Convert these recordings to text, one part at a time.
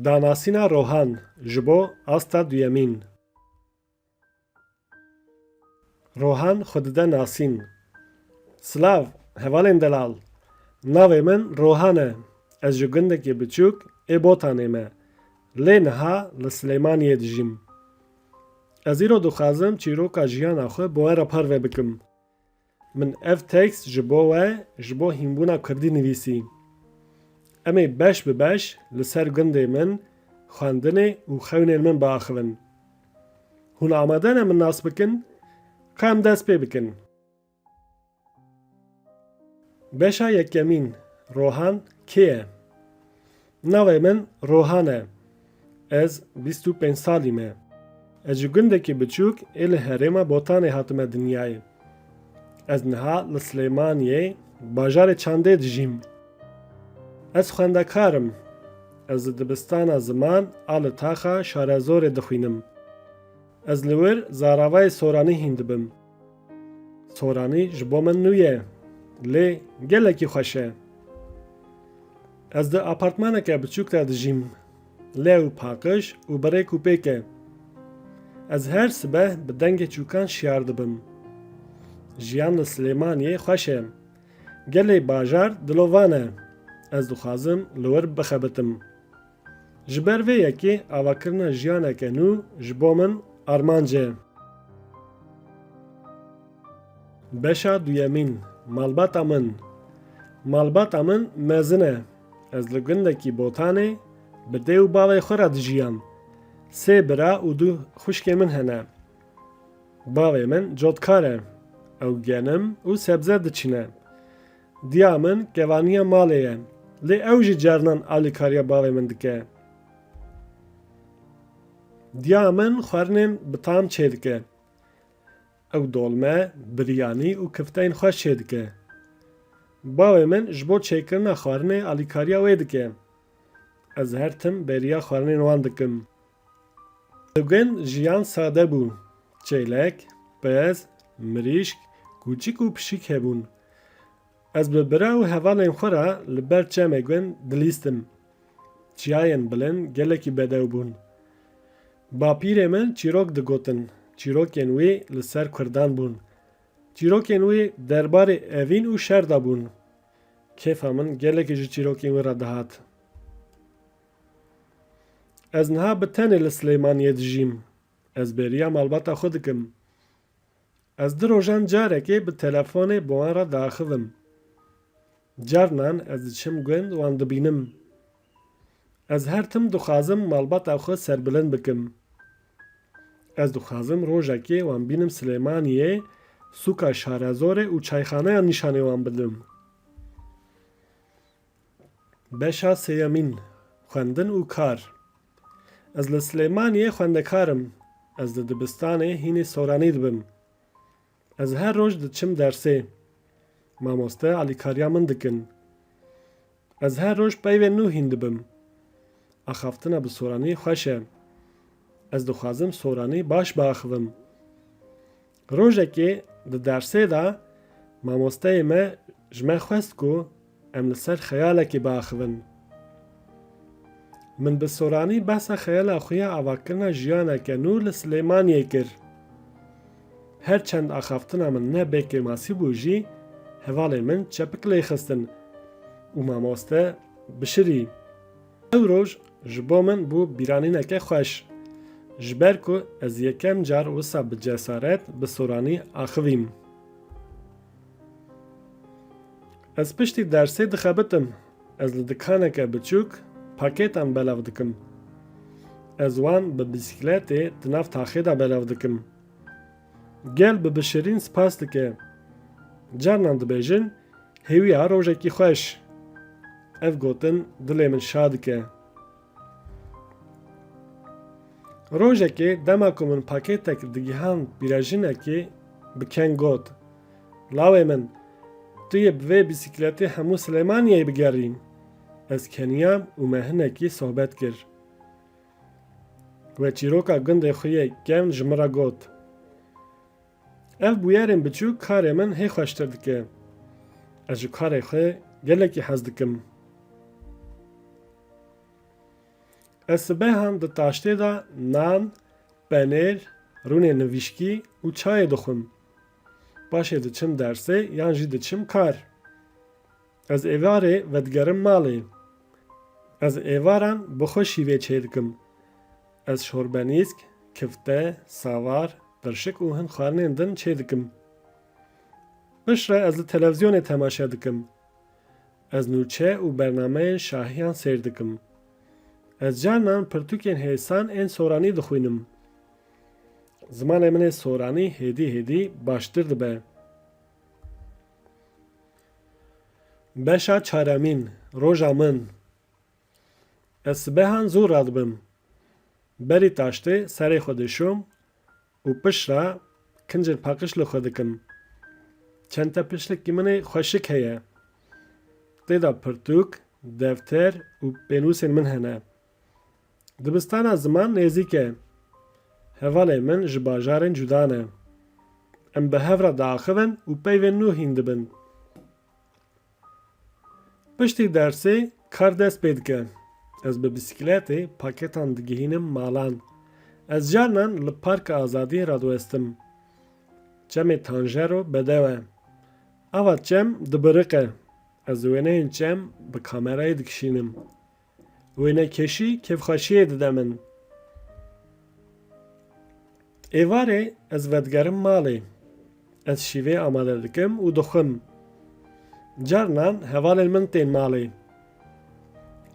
Danasîna rohan ji bo asta duyemîn. Rohan xwe dide nasîn. Silav, hevalên delal. Navê min Rohan e. Ez ji gundekê biçûk ê Botanê me. Lê niha li Silêmaniyê dijîm. Ez îro dixwazim çîroka jiyana xwe bi we re parve bikim. Min ev tekst ji bo we ji bo hînbûna kurdî nivîsî. Em ê beş bi beş li ser gundê min, xwendinê û xewnên min biaxivin. Hûn amade ne min nas bikin? Ka em dest pê bikin. Beşa yekemîn, Rohan, kê ye? Navê min Rohan e. Ez bîst û pênc salî me. Ez ji gundekî biçûk ê li herêma Botanê hatime dinyayê. Ez niha li Silêmaniyê bajarê Çandê dijîm. Ez xwendekar im. Ez li dibistana ziman a li taxa Şarezorê dixwînim. Ez li wir zaravayê soranî hîn dibim. Soranî ji bo min nû ye, lê gelekî xweş e. Ez di apartmaneke biçûk de dijîm, lew paqij û bi rêk û pêk e. Ez her sibeh bi dengê çûkan şiyar dibim. Jiyan li Silêmaniyê xweş e. Gelê bajar dilovan e. Ez dixwazim li wir bixebitim. Ji ber vê yekê avakirina jiyaneke nû ji bo min armanc e. Beşa duyemîn, Malbata min Malbata min mezin e. Ez li gundekî Botanê bi dê û bavê xwe re dijiyam. Sê bira û du xwişkê min hene. Bavê min cotkar e. Ew genim û sebze diçine. Diya min kevaniya malê ye. Lê ew jî carinan alîkariya bavê min dike. Diya min xwarinên bi tam çêdike. Ew dolme, biryanî û kifteyên xweş çêdike. Bavê min ji bo çêkirina xwarinê alîkariya wê dike. Ez her tim bêriya xwarinên wan dikim. Di gund jiyan sade bû. Çêlek, pez, mirîşk, kûçik û pişik hebûn. Ez bi bira û hevalên xwe re li ber çemê gund dilîstim. Çiyayên bilind gelekî bedew bûn. Bapîrê min çîrok digotin. Çîrokên wî li ser kurdan bûn. Çîrokên wî derbarê evîn û şer de bûn. Kêfa min gelekî ji çîrokên wî re dihat. Ez niha bi tenê li Silêmaniyê dijîm. Ez bêriya malbata xwe dikim. Ez di rojan carekê bi telefonê bi wan re diaxivim. Carinan ez diçim gund wan dibînim. Ez her tim dixwazim malbata xwe serbilind bikim. Ez dixwazim rojekê wan bînim Silêmaniyê, sûka Şarezorê û çayxaneyan nîşanê wan bidim. Beşa sêyemîn, Xwendin û kar Ez li Silêmaniyê xwendekar im. Ez di dibistanê hînî soranî dibim. Ez her roj diçim dersê. Mamoste alîkariya min dikin. Ez her roj peyvên nû hîn dibim. Axaftina bi soranî xweş e. Ez dixwazim soranî baş biaxivim. Rojekê di dersê de mamosteyê me ji me xwest ku em li ser xeyalekê biaxivin. Min bi soranî behsa xeyala xwe ya avakirina jiyaneke nû li Silêmaniyê kir. Her çend axaftina min ne bê kêmasî bû jî hevalên min çepik lê xistin û mamoste bişirî. Ev roj ji bo min bû bîranîneke xweş. Ji ber ku ez yekem car wisa bi cesaret bi soranî axivîm. Ez piştî dersê dixebitim. Ez li dikaneke biçûk pakêtan belav dikim. Ez wan bi bîsîkletê di nav taxê de belav dikim. Gel bi bişirîn spas dike. Carnan dibêjin Hêwiya rojekî xweş. Ev gotin dilê min şa dike. Rojekê dema ku min pakêtek digihand pîrejinekê bi keng got, Lawê min, tu yê bi vê bîsîkletê hemû Silêmaniyeyê bigerî. Ez keniyam û me hinekî sohbet kir. We çîroka gundê xwe yê kevn ji min re got, Ev bûyerên biçûk karê min hê xweştir dike. Ez ji karê xwe gelekî hez dikim. Ez sibehan di taştê de nan, penêr, rûnê nivîşkî û çayê dixwim. Paşê diçim dersê yan jî diçim kar. Ez êvarê vedigerim malê. Ez êvaran bi xwe şîvê çêdikim. Ez şorbenîsk, kifte, savar, qirşik û hin xwarinên din çêdikim. Piştre ez li televîzyonê temaşe dikim. Ez nûçe û bernameyên şahiyan sêr dikim. Ez carinan pirtûkên hêsan ên soranî dixwînim. Zimanê min ê soranî hêdî hêdî baştir dibe. Beşa çaremîn, roja min. Ez sibehan zû radibim. Berî taştê serê xwe dişom û pişra kincên paqij li xwe dikim. Çente pişlikî min ê xweşik heye. Tê de pirtûk, defter û pênûsên min hene. Dibistana ziman nêzîk e. Hevalên min ji bajarên cuda ne. Em bi hev re diaxivin û peyvên nû hîn dibin. Piştî dersê kar dest pê dike. Ez bi bîsîkletê paketan digihînim malan. Ez carinan li Parka Azadiyê radiwestim. Çemê Tanjero bedew e. Ava çem dibiriqe. Ez wêneyên çem bi kamerayê dikişînim. Wênekêşî kêfxweşiyê dide min. Êvarê ez vedigerim malê. Ez şîvê amade dikim û dixwim. Carinan hevalên min tên malê.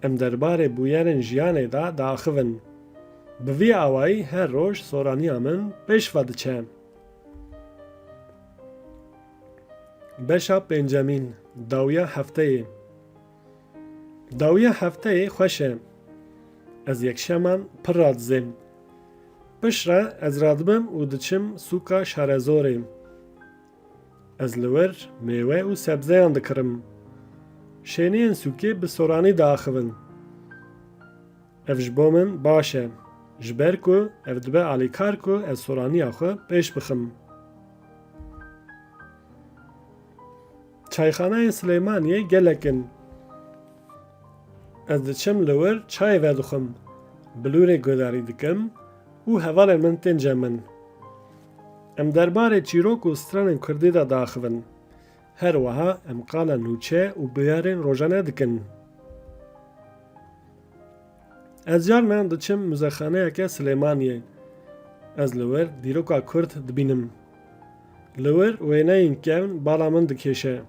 Em derbarê bûyerên jiyanê de diaxivin. Bi vî awayî her roj soraniya min pêş ve diçe. Beşa pêncemîn, dawiya hefteyê. Dawiya hefteyê xweş e. Ez yekşeman pir radizêm. Piştre ez radibim û diçim sûka Şarezorê. Ez li wir mêwe û sebzeyan dikirim. Şêniyên sûkê bi soranî diaxivin. Ev ji bo min baş e. Ji ber ku ev dibe alîkar ku ez soraniya xwe pêş bixim. Çayxaneyên Silêmaniyê gelek in. Ez diçim li wir çayê vedixwim, bilûrê guhdarî dikim û hevalên min tên cem min. Em derbarê çîrok û stranên kurdî de diaxivin. Her wiha em qala nûçe û bûyerên rojane dikin. Ez carnan diçim muzexaneyeke Silêmaniyê. Ez li wir dîroka Kurd dibînim. Li wir wêneyên kevn bala min dikêşe.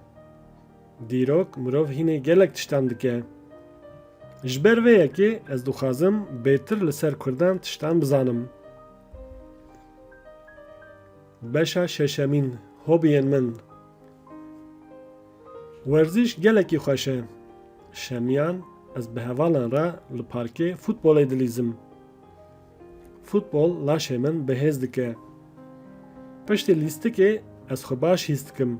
Dîrok mirov hînê gelek tiştan dike. Ji ber vê yekê ez dixwazim bêtir li ser Kurdan tiştan bizanim. Beşa şeşemîn, hobiyên min. Werziş gelekî xweş e. Şemiyan ez bi hevalan re li parkê futbolê dilîzim. Futbol laşê min bi hêz dike. Piştî lîstikê ez xwe baş hîs dikim.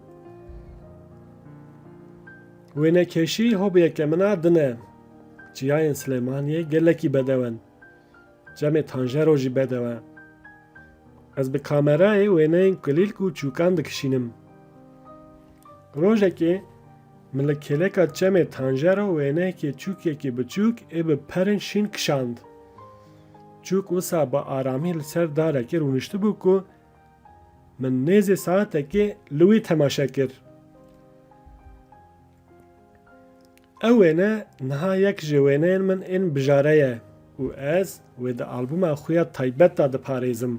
Wênekêşî hobiyeke min a din e. Çiyayên Silêmaniyê gelekî bedew in. Çemê tanjero jî bedeww e. Ez bi kamerayê wêneyên kulîlk û çûkan dikişînim. Rojekê min li kêleka çemê tanjero wêneyekê çûkekî biçûk ê bi perên şîn kişand. Çûk wisa bi aramî li ser darekê rûniştibû ku min nêzê saetekê li wî temaşe kir. Ew wêne niha yek ji wêneyên min ên bijare ye û ez wê di albûma xwe ya taybet de diparêzim.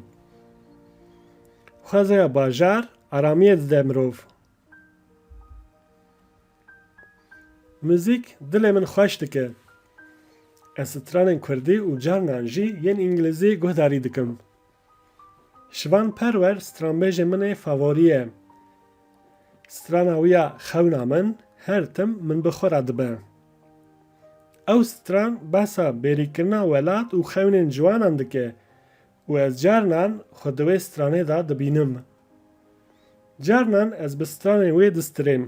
Xwezaya bajar aramiyê dide mirov. Muzîk dilê min xweş dike. Ez stranên kurdî û carinan jî yên îngilîzî guhdarî dikim. Şivan Perwer stranbêjê min ê favorî ye. Strana wî ya Xewna min her tim min bi xwe re dibe. Ew stran behsa bêrîkirina welat û xewnên ciwanan dike û ez carinan xwe di wê stranê de dibînim. Carinan ez bi stranên wê distirêm.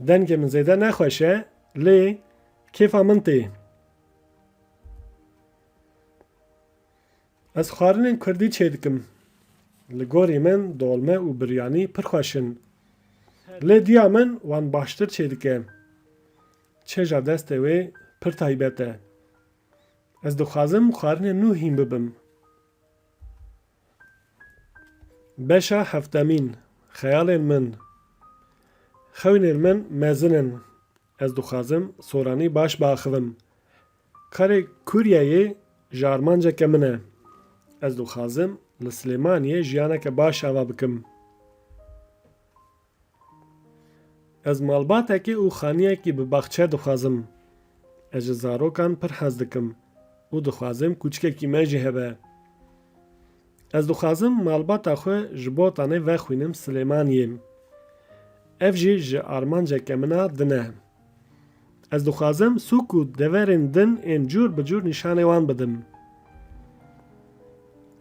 Dengê min zêde ne xweş e lê kêfa min tê. Ez xwarinên kurdî çêdikim. Li gorî min dolme û biryanî pir xweş in. Lê diya min wan baştir çêdike. Çêja destê wê pir taybet e. Ez dixwazim xwarinên nû hîn bibim. Beşa heftemîn, Xeyalên min Xewnên min mezin in. Ez dixwazim soranî baş biaxivim. Karê Kuryeyê ji armanceke min e. Ez dixwazim li Silêmaniyê jiyaneke baş ava bikim. Ez malbatekê û xaniyekî bi baxçe dixwazim. Ez ji zarokan pir hez dikim û dixwazim kûçikekî me jî hebe. Ez dixwazim malbata xwe ji Botanê vexwînim Silêmaniyê. Ev jî ji armanceke min a din e. Ez dixwazim sûk û deverên din ên cûr bi cûr nîşanê wan bidim.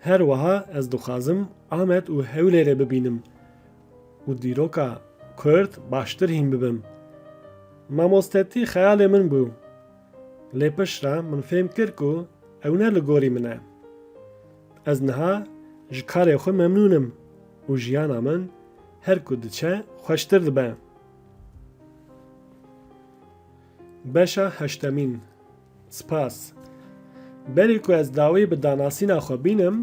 Her wiha ez dixwazim Amed û Hewlêrê bibînim û dîroka Kurd baştir hîn bibim. Mamostetî xeyalê min bû. Lê piştre min fêm kir ku ew ne li gorî min e. Ez niha ji karê xwe memnûn im û jiyana min her ku diçe xweştir dibe. Beşa heştemîn Spas. Berê ku ez dawî bi danasîna xwe bînim,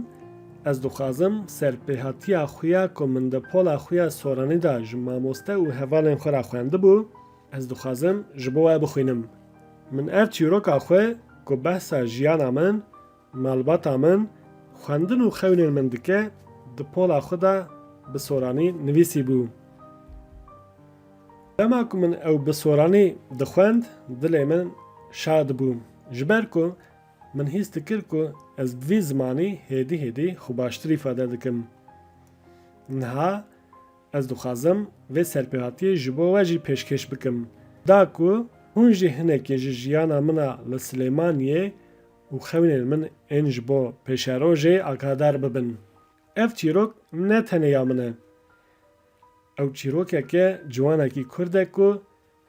ez dixwazim serpêhatiya xwe ya ku min di pola xwe ya soranî de ji mamoste û hevalên xwe re xwendibû, ez dixwazim ji bo we bixwînim. Min ev çîroka xwe ku behsa jiyana min, Malbata min xwendin û xewnên min dike di pola xwe de bi soranî nivîsîbû. Dema ku min ew bi soranî dixwend dilê min şa dibû ji ber ku min hîs dikir ku ez bi vî zimanî hêdî hêdî xwe baştir îfade dikim. Niha ez dixwazim vê serpêhatiyê ji bo we jî pêşkêş bikim. Da ku hûn jî hinekî ji jiyana min a li Silêmaniyê û xewnên min ên ji bo pêşerojê akadar bibin. Ev çîrok ne tenê ya min e. Ew çîrokeke ciwanekî kurd e ku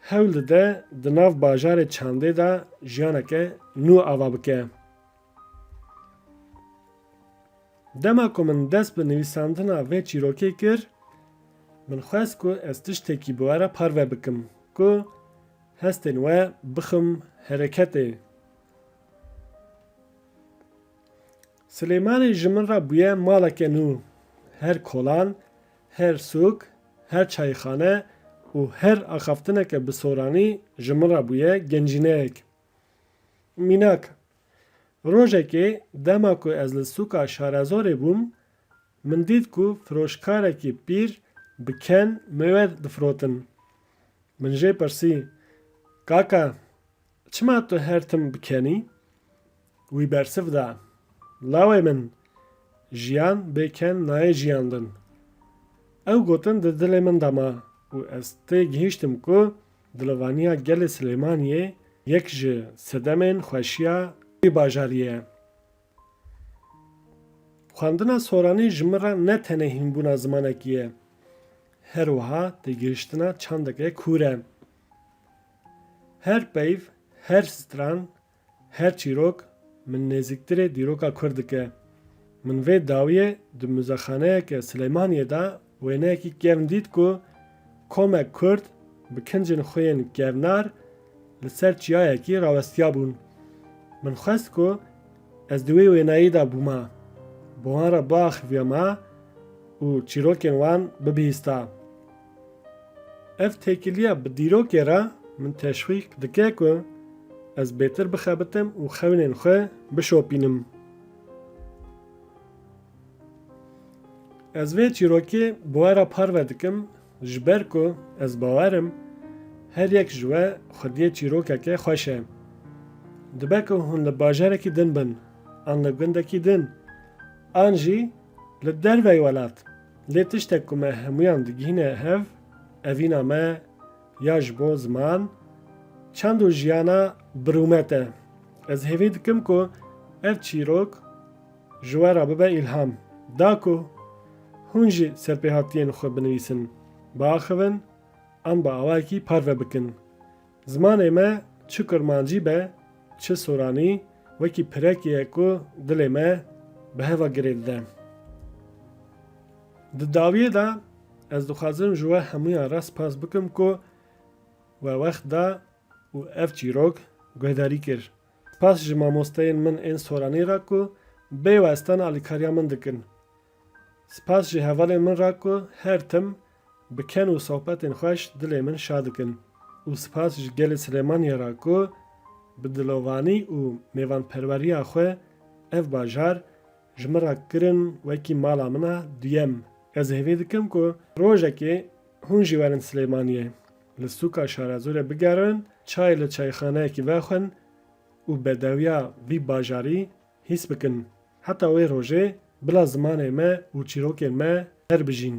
hewl dide di nav bajarê Çandê de jiyaneke nû ava bike. Dema ku min dest bi nivîsandina vê çîrokê kir, min xwest ku ez tiştekî bi we re parve bikim ku hestên we bixim hereketê. Silêmanê ji min re bûye maleke nû. Her kolan, her sûk, her çayxane û her axaftineke bi soranî ji min re bûye gencîneyek. Mînak, rojekê dema ku ez li sûka Şarezorê bûm, min dît ku firoşkarekî pîr bi ken mêwer difirotin. Min jê pirsî, Kaka, Çima tu her tim bikenî? Wî bersiv da, Lawê min, jiyan bê ken nayê jiyandin. Ew gotin di dilê min de ma û ez tê gihîştim ku dilivaniya gelê Silêmaniyê yek ji sedemên xweşiya wî bajarî ye. Xwendina soranî ji min re ne tenê hînbûna zimanekî ye, her wiha têgihiştina çandeke kûr e. Her peyv, her stran, her çîrok min nêzîktirê dîroka kurd dike. Min vê dawiyê di muzexaneyeke Sileymaniyê de wêneyekî kevn dît ku komek kurd bi kincên xwe yên kevnar li ser çiyayekî rawestiyabûn. Min xwest ku ez di wê wêneyê de bûma, bi wan re biaxivîyama û çîrokên wan bibihîsta. Ev têkiliya bi dîrokê re min teşwîq dike ku ez bêtir bixebitim û xewnên xwe bişopînim. Ez vê çîrokê bi we re parve dikim ji ber ku ez bawer im her yek ji we xwediyê çîrokeke xweş e. Dibe ku hûn li bajarekî din bin, an li gundekî din, an jî li derveyî welat. Lê tiştek ku me hemûyan digihîne hev, evîna me ya ji bo ziman, çend û jiyana bi rûmet e. Ez hêvî dikim ku ev çîrok ji we re bibe îlham. Da ku hûn jî serpêhatiyên xwe binivîsin, biaxivin an bi awayekî parve bikin. Zimanê me çi kurmancî be çi soranî wekî pirekê ye ku dilê me bi heva girê dide. Di dawiyê de ez dixwazim ji we hemûyan re spas bikim ku we wext da û ev çîrok guhdarî kir. Spas ji mamosteyên min ên soranî re ku bê westan alîkariya min dikin. Spas ji hevalên min re ku her tim bi ken û sohbetên xweş dilê min şa dikin û spas ji gelê Silêmaniyê re ku bi dilovanî û mêvanperweriya xwe ev bajar ji min re kirin wekî mala min a duyem. Ez hêvî dikim ku rojekê hûn jî werin Silêmaniyê, li sûka Şarezorê bigerin, çayê li çayxaneyekî vexwin û bedewiya vî bajarî Hîs bikin heta wê rojê bila zimanê me û çîrokên me her bijîn.